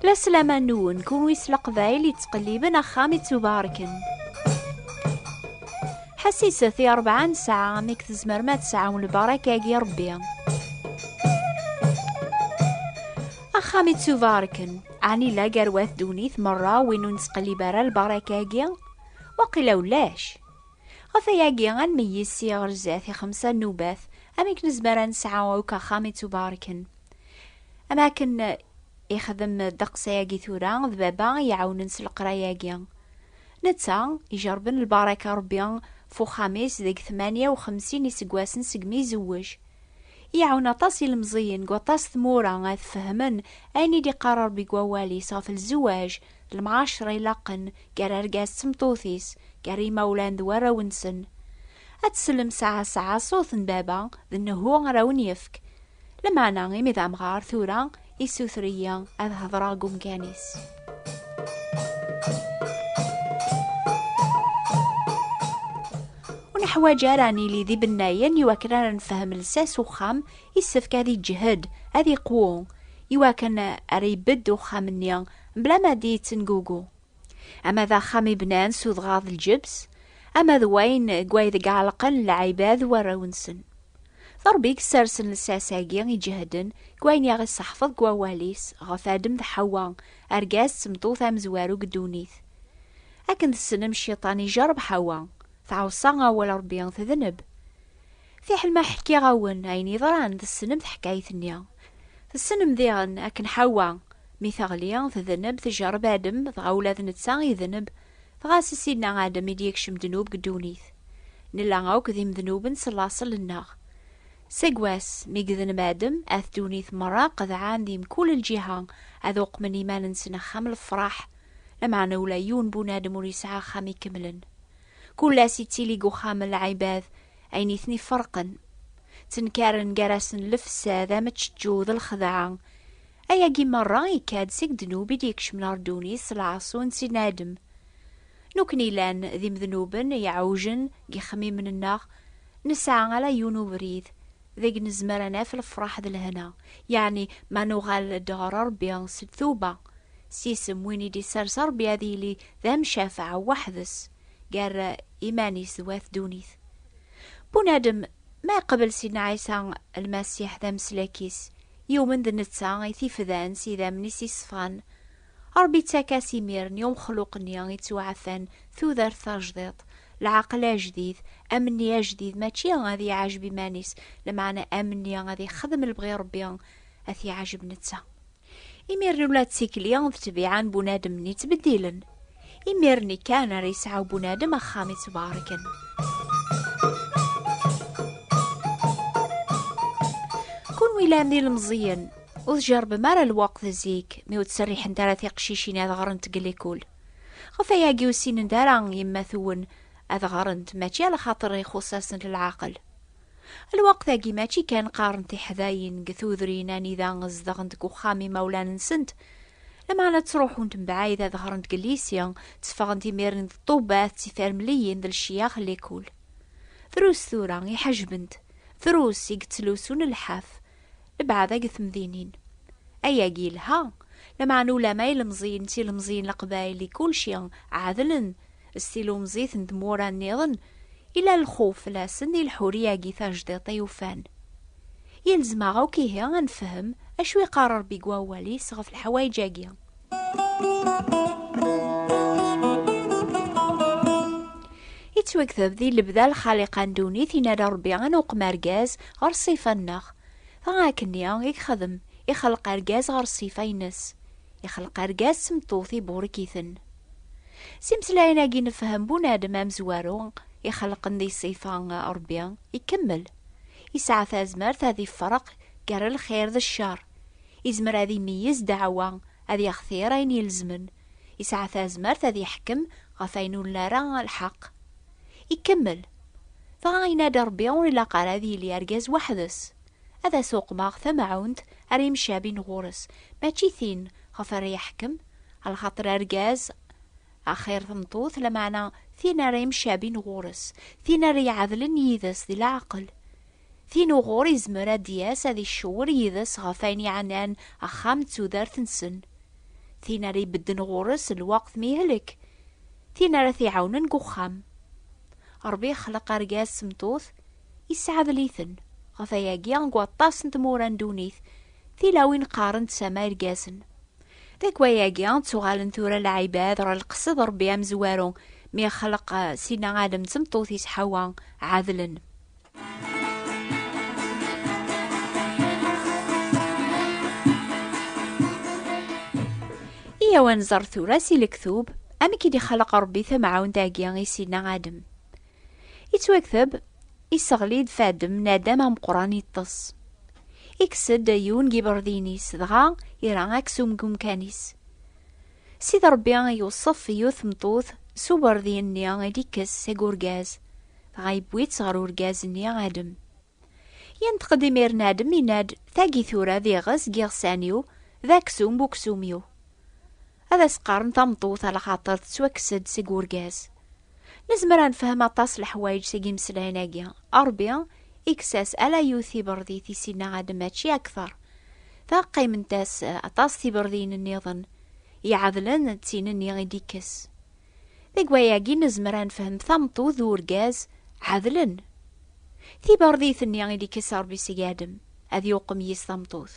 La slama nwen, kunwi s leqbayel yettqelliben axxam ittubarken. Ḥassiset i rebɛa nesɛa amek tzemrem ad tesɛum lbarak-agi Rebbi. Axxam ittubarken, ɛni la garwat ddunit merra win ur nettqellib ara lbarak-agi? Waqila ulac. Ɣef wayagi, ad nmeyyez sya ɣer zdat i xemsa nnubat, amek nezmer ad nesɛu akk axxam ittubarken. Am akken ixdem ddeqs ayagi tura d baba i iɛawnen s leqraya-agi. Netta, ijerben lbaraka Rebbi f uxxam-is deg tmanya u xemsin iseggasen segmi izewwej. Iɛawen aṭas ilemẓiyen deg waṭas tmura ad fehmen ayen i d-iqqar Ṛebbi deg Wawal-is ɣef lzewaj d lemɛaceṛa ilaqen gar argaz d tmeṭṭut-is, gar yimawlan d warraw-nsen. Ad tsellem sɛa sɛa ṣṣut n baba d nnehu ara awen-yefk. Lameɛna imi d amɣar tura Issuter-iyi ad hedreɣ deg umkan-is. Ur neḥwaǧ ara ad nili d ibennayen iwakken ara nefhem lsas uxxam, yessefk ad iǧhed, ad iqwu, iwakken ara ibedd uxxam-nni mebla ma d-yettengugu. ama d axxam i bnan s udɣaɣ d lǧebs, ama d wayen deg waydeg ɛelqen lɛibad d warraw-nsen. D Rebbi i yessersen lsas-agi iǧehden deg wayen i aɣ-isseḥfeḍ deg Wawal-is ɣef Adem d Ḥewwa, argaz d tmeṭṭut amezwaru deg ddunit. Akken tessnem, Cciṭan ijerreb Ḥewwa, tɛeṣṣa awal Rebbi, tedneb. Fiḥel ma ḥkiɣ-awen ayen yeḍran tessnem taḥkayt-nni. Tessnem diɣen akken Ḥawa mi teɣli tedneb, tjerreb Adem, dɣa ula d netta idneb, dɣa si Sidna Adem i d-yekcem ddnub deg ddunit. Nella akk d imednuben s laṣel-nneɣ. Seg wass mi yedneb Adem, at ddunit merra qedɛen di mkul lǧiha ad uqmen iman-nsen axxam lefraḥ, lameɛna ula yiwen bunadem ur yesɛi axxam ikemlen. Kul ass yettili deg uxxam n lɛibad ayen i ten-iferqen. Ttenkaren gar-asen lefsad, ameččeǧǧu d lxedɛa. Ayagi merra yekka-d seg ddnub i d-yekcmen ɣer ddunit s lɛaṣu n Sidna Adem. Nukni llan d imednuben iɛewjen deg yixemmimen-nneɣ, nesɛa ala yiwen ubrid, deg nezmer a naf lefraḥ d lehna, yeɛni ma nuɣal-d ɣer Rebbi s ltuba, s isem win i d-isers Rebbi ad yili d amcafeɛ weḥd-s gar iman-is d wat ddunit. Bunadem, ma iqbel Sidna Ɛisa Lmasiḥ d ameslak-is, yumen d netta i t-ifdan s idammen-is iṣfan, Ṛebbi ittak-as imir-n i umexluq-nni ittuɛafan tudert tajdiṭ, leɛqel ajdid, amenni ajdid mačči ad iɛajeb iman-is, lameɛna amenni ad ixdem lebɣi Ṛebbi, ad t-iɛajeb netta. Imir-n ula d tikli d ttbiɛa n bunadem-nni ttbeddilen. Imir-nni kan ara yesɛu bunadem axxam ittbaṛken. Kunwi llan d ilemẓiyen, Ur tjerrbem ara lweqt zik mi ur ttserriḥent ara tiqcicin ad ɣrent deg lekul. Ɣef wayagi ur ssinent ara yemma-twen ad ɣrent mačči ala xaṭer ixuṣṣ-asent leɛqel. Lweqt-agi mačči kan qqaren tiḥdayin deg tudrin anida zedɣent deg uxxam imawlan-nsent, lameɛna ttruḥunt mebɛid ad ɣrent deg lyisi, tteffɣent imiren d ṭṭubbat d tifermliyin d lecyax n lekul. Drus tura i ḥejbent, drus i yettlusun lḥaf, Lebɛada deg temdinin. Ayagi yelha, lameɛna ulama ilemẓiyen d tilemẓiyin leqbayel di kulci ɛedlen s tilumẓit n tmura nniḍen, yella lxuf fell-asen di leḥuriya-agi tajdiṭ i ufan. Yelzem-aɣ akk ihi ad nefhem acu iqqar Rebbi deg wawal-is ɣef leḥwayeǧ-agi. yettwagdeb di lebda lxaliqa n dewwit in ara rebbi ad nuqem argaz ɣer ṣṣifa-nneɣ. Dɣa akken-nni i yexdem, ixelq argaz ɣer ṣṣifa-ines. Ixelq argaz s tmeṭṭut iburek-iten. S imeslayen-agi nefhem bunadem amezwaru ixelqen di ṣṣifa rebbi ikemmel. Yesɛa tazmert ad ifreq gar lxir d ccer. Izmer ad imeyyez ddeɛwa, ad yextir ayen ilezmen, yesɛa tazmert ad yeḥkem ɣef ayen ur nli ara lḥeqq. Ikemmel, Dɣa yenna-d Rebbi ur ilaq ara ad yili argaz weḥd-s. Ad as-uqmeɣ tamɛunt ara yemcabin ɣur-s, mačči tin ɣef ara yeḥkem, lxaṭer argaz axir tmeṭṭut, lameɛna tin ara yemcabin ɣur-s, tin ara iɛedlen yid-s di leɛqel, Tin uɣur yezmer ad d-yas ad iccewwer yid-s ɣef wayen yeɛnan axxam d tudert-nsen. Tin ara ibedden ɣur-s lweqt mi yehlek. Tin ara t-iɛawnen deg uxxam. Ṛebbi yexleq argaz s tmeṭṭut, yesɛedl-iten. Ɣef wayagi, deg waṭas n tmura n ddunit, tilawin qqaren-d sama irgazen. Deg wayagi, ttuɣalen tura lɛibad ɣer lqesed n Ṛebbi amezwaru mi yexleq Sina Adem d tmeṭṭut-is Ḥawa, ɛedlen. Iyaw ad nẓer tura si lektub amek i d-ixalaq Ṛebbi tamɛawnt-agi i Sidna Adem. Ittwakteb, iseɣli-d fadem n Adem ameqqran iṭṭes. Ikkes-d yiwen n yiberdiyen-is, dɣa ira aksum deg umkan-is. Sid Ṛebbi iwṣef yiwet tmeṭṭut s uberdiyen-nni i d-ikkes seg urgaz. Dɣa yewwi-tt ɣer urgaz-nni Adem. Yenṭeq-d imiren Adem, yenna-d, Tagi tura d iɣes n yiɣsan-iw, d aksum n uksum-iw. Ad as-qqaren tameṭṭut alxaṭer tettwakkes-d seg urgaz. Nezmer ad nefhem aṭas leḥwayeǧ seg yimeslayen-agi. Ṛebbi ikkes-as ala yiwet tibeṛdit i Sidna Adem mačči akteṛ. Dɣa qqiment-as aṭas tibeṛdiyin nniḍen iɛedlen d tin-nni i d-ikkes. Deg wayagi nezmer ad nefhem tameṭṭut d urgaz ɛedlen. Tiberdit-nni i d-ikess Rebbi seg Adem, ad yuqem yis tameṭṭut.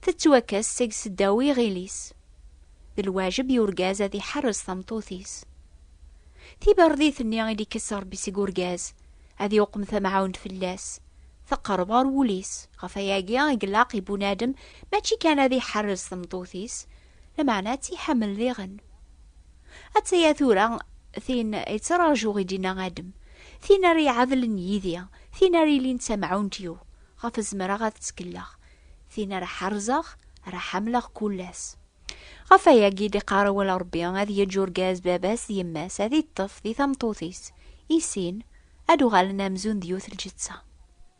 Tettwakkes seg seddaw n yiɣil-is. D lwajeb i urgaz ad iḥerres tameṭṭut-is. Tiberdit-nni i d-ikess Rebbi seg urgaz, ad yuqem tamɛawnt fell-as, teqreb ɣer wul-is. Ɣef wayagi i ilaq i bunadem mačči kan ad iḥerres tameṭṭut-is, Lameɛna ad tt-iḥemmel diɣen. Atta-ya tura tin yettṛajuɣ i d-inna Adem, tin ara iɛadlen yid-i, tin ara ilin d tamɛunt-iw, ɣef zemreɣ ad tt-kelleɣ, tin ara ḥerzeɣ, ara ḥamleɣ kul ass. Ɣef wayagi i d-iqqar awal Ṛebbi, ad yeǧǧ urgaz baba-s d yemma-s, ad iṭṭef di tameṭṭut-is, i sin ad uɣalen amzun d yiwet lǧeţţa.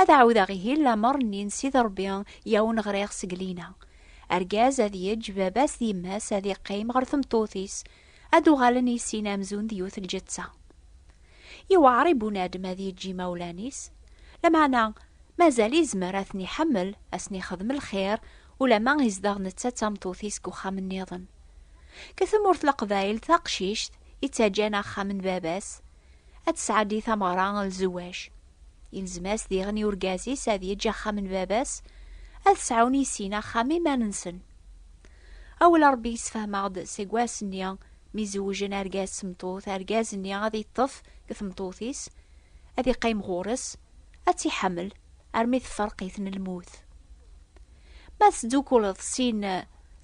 Ad ɛawdeɣ ihi lamer nni n Sidi Rebbi i awen-ɣriɣ seg Lina. Argaz ad yeǧǧ baba-s d yemma-s ad iqqim ɣer tmeṭṭut-is, ad d-uɣalen i sin amzun d yiwet lǧetta. Yewɛer i bunadem ad yeǧǧ imawlan-is, lameɛna mazal izmer ad ten-iḥemmel, ad sen-ixdem lxir, ulamma izdeɣ netta d tameṭṭut-is deg uxxam nniḍen. Deg tmurt n Leqbayel taqcict yettaǧǧan axxam n baba-s, ad tesɛeddi tameɣra n lzewaj. Ilzem-as diɣen i urgaz-is ad yeǧǧ axxam n baba-s, ad sɛun i sin axxam iman-nsen. Awal n Ṛebbi yessefhem-aɣ-d seg wass-nni mi zewjen argaz s tmeṭṭut, argaz-nni ad iṭṭef deg tmeṭṭut-is, ad iqqim ɣur-s, ad tt-iḥemmel armi tefreq-iten lmut. Ma tesdukkuleḍ sin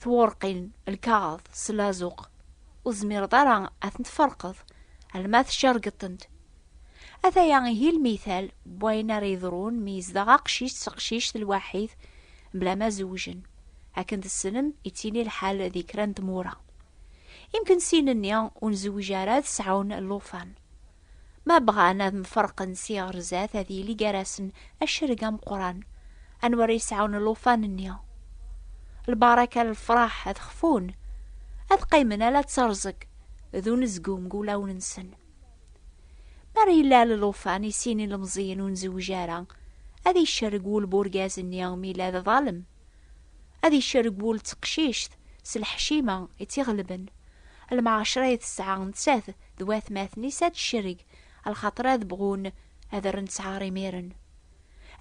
twurqin, lkaɣeḍ s lazuq, ur tezmireḍ ara ad ten-tferqeḍ. alma tcergeḍ-tent. Ataya ihi lmital n wayen ara yeḍrun mi yezdeɣ aqcic d teqcict lwaḥid mebla ma zewjen. Akken tessnem, yettili lḥal di kra n tmura. Imken sin-nni ur nzewwij ara ad sɛun llufan. Ma bɣan ad mferqen si ɣer zdat ad yili gar-asen acerreg ameqqran. Anwa ara yesɛun llufan-nni? Lbaraka n lefraḥ ad xfun, ad qqimen ala d terẓeg. d unezgum deg wulawen-nsen. Mi ara yellal llufan i sin ilemẓiyen ur nzewj ara, ad icerreg wul n urgaz-nni imi yella d aḍalem. Ad icerreg wul n teqcict s lḥecima i tt-iɣelben. Lmeɛcra ay tesɛa nettat d watmaten-is ad tcerreg, lxaṭer ad bɣun ad rren ttɛar imiren.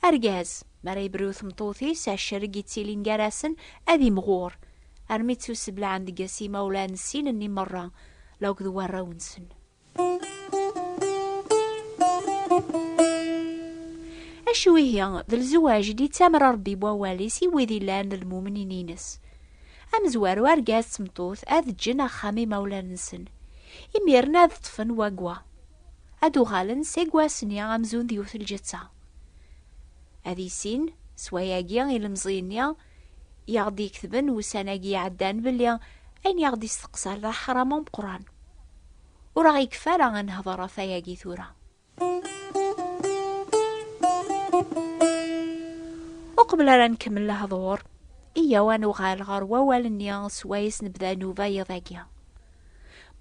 Argaz, mi ara yebru i tmeṭṭut-is, acerreg yettilin gar-asen ad imɣur, armi ttuseblaɛen deg-s yimawlan s sin-nni merra, la akked warraw-nsen. Acu ihi, d lzewaj i d-yettamer Rebbi n wawal-is i wid yellan d lmumnin-ines. Amezwaru argaz d tmeṭṭut ad ǧǧen axxam imawlan-nsen, imiren ad ṭṭfen wagwa. ad d-uɣalen seg wass-nni amzun d yiwet lǧetta. Ad issin s wayagi ilemẓi-nni i aɣ-d-iketben ussan-agi iɛeddan belli ayen i aɣ-d-isteqsar d aḥram ameqqran. Ur aɣ-ikeffi ara ad nehder ɣef wayagi tura. Uqbel ara nkemmel lehdur, iyyaw ad nuɣal ɣer wawal-nni s wayes nebda nnuba yiḍ-agi.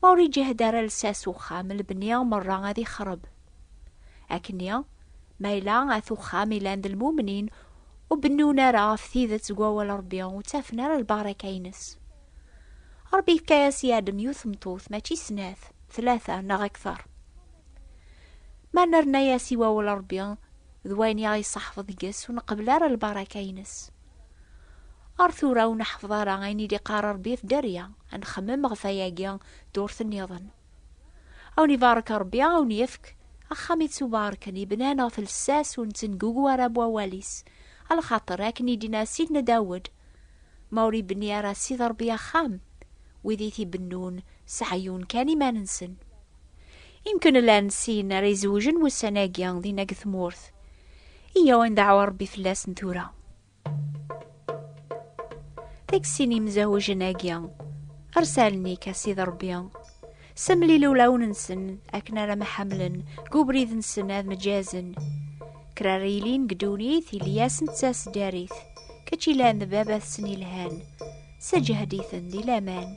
Ma ur iǧehd ara lsas uxxam, lebni merra ad ixreb. Akkenni, ma yella at uxxam ilan d lmumnin, ur bennun ara ɣef tidet deg wawal Rebbi, ur ttafen ara lbaraka-ines. Rebbi yefka-as i Adem yiwet tmeṭṭut, mačči snat, tlata neɣ akter. Ma nerna-as i wawal Rebbi d wayen i aɣ-iṣaḥfeḍ deg-s, ur nqebbel ara lbaraka-ines. Ar tura ur neḥfeḍ ara ayen i d-iqqar Rebbi ɣef dderya, ad nxemmem ɣef wayagi ddurt nniḍen. A wen-ibarek Rebbi, a wen-yefk axxam ittubarken, yebnan ɣef lsas ur nettengugu ara n wawal-is, a lxaṭer akken i d-yenna Sidna Dawed, Ma ur ibenni ara Ssid Rebbi axxam, wid i t-ibennun seɛyun kan iman-nsen. Imken llan sin ara izewjen wussan-agi dinna deg tmurt. Iyyaw ad ndaɛu Rebbi fell-asen tura. Deg sin imzawjen-agi, arsalen-ik a Sidi Rebbi, semlil ulawen-nsen akken ara mḥamlen deg ubrid-nsen ad mǧazen. Kra ara yilin deg ddunit ili-asen d tasdarit, kečč ilan d baba-tsen ilhan, sseǧhed-iten di laman.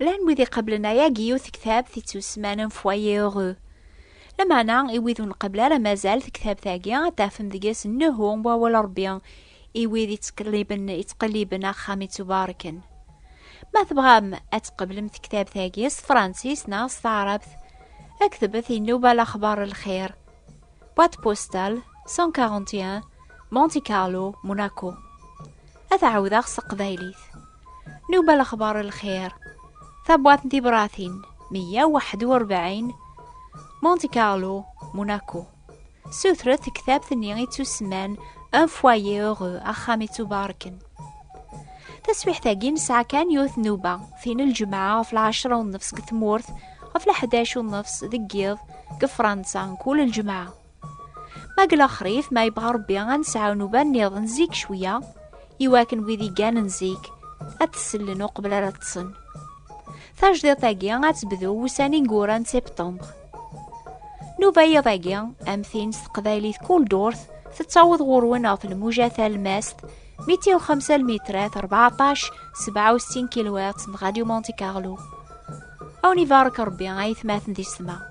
Llan wid iqablen ayagi yiwet tektabt yettusmanen Foyer Heureux. Lameɛna i wid ur nqabel ara mazal tektabt-agi ad tafem deg-s nnehu n wawal Rebbi i wid yettqelliben yettqelliben axxam ittubarken. Ma tebɣam ad tqablem tektabt-agi s tefransist neɣ s taɛrabt, ktebet inuba lexbar lxir. Boîte postale 141 Monte Carlo Monaco ad ɛawdeɣ s teqbaylit nuba lexbar lxir tabwaḍt n tibratin 141 Monte Carlo Monaco sutret tektabt-nni i tusman un foyer heureux axxam i ttubarken Taswiḥt-agi nesɛa kan yiwet nnuba, tin n lǧemɛa ɣef lɛecra u nnefs deg tmurt, ɣef leḥdac u nnefs deg yiḍ, deg Fransa, mkul lǧemɛa. Ma deg lexrif, ma yebɣa Rebbi ad nesɛu nnuba nniḍen zik cwiya, iwakken wid i gganen zik ad t-sellen uqbel ara ṭṭsen. Tajdiṭ-agi ad tebdu wussan ineggura n septembre. Nuba yiḍ agi, am tin s teqbaylit kul durt, tettaweḍ ɣur-wen ɣef lmuja talmast, 205 lmitrat 14 67 kilowat n Radio Monte Carlo. Awen ibarek Rebbi ay tmaten di ssma.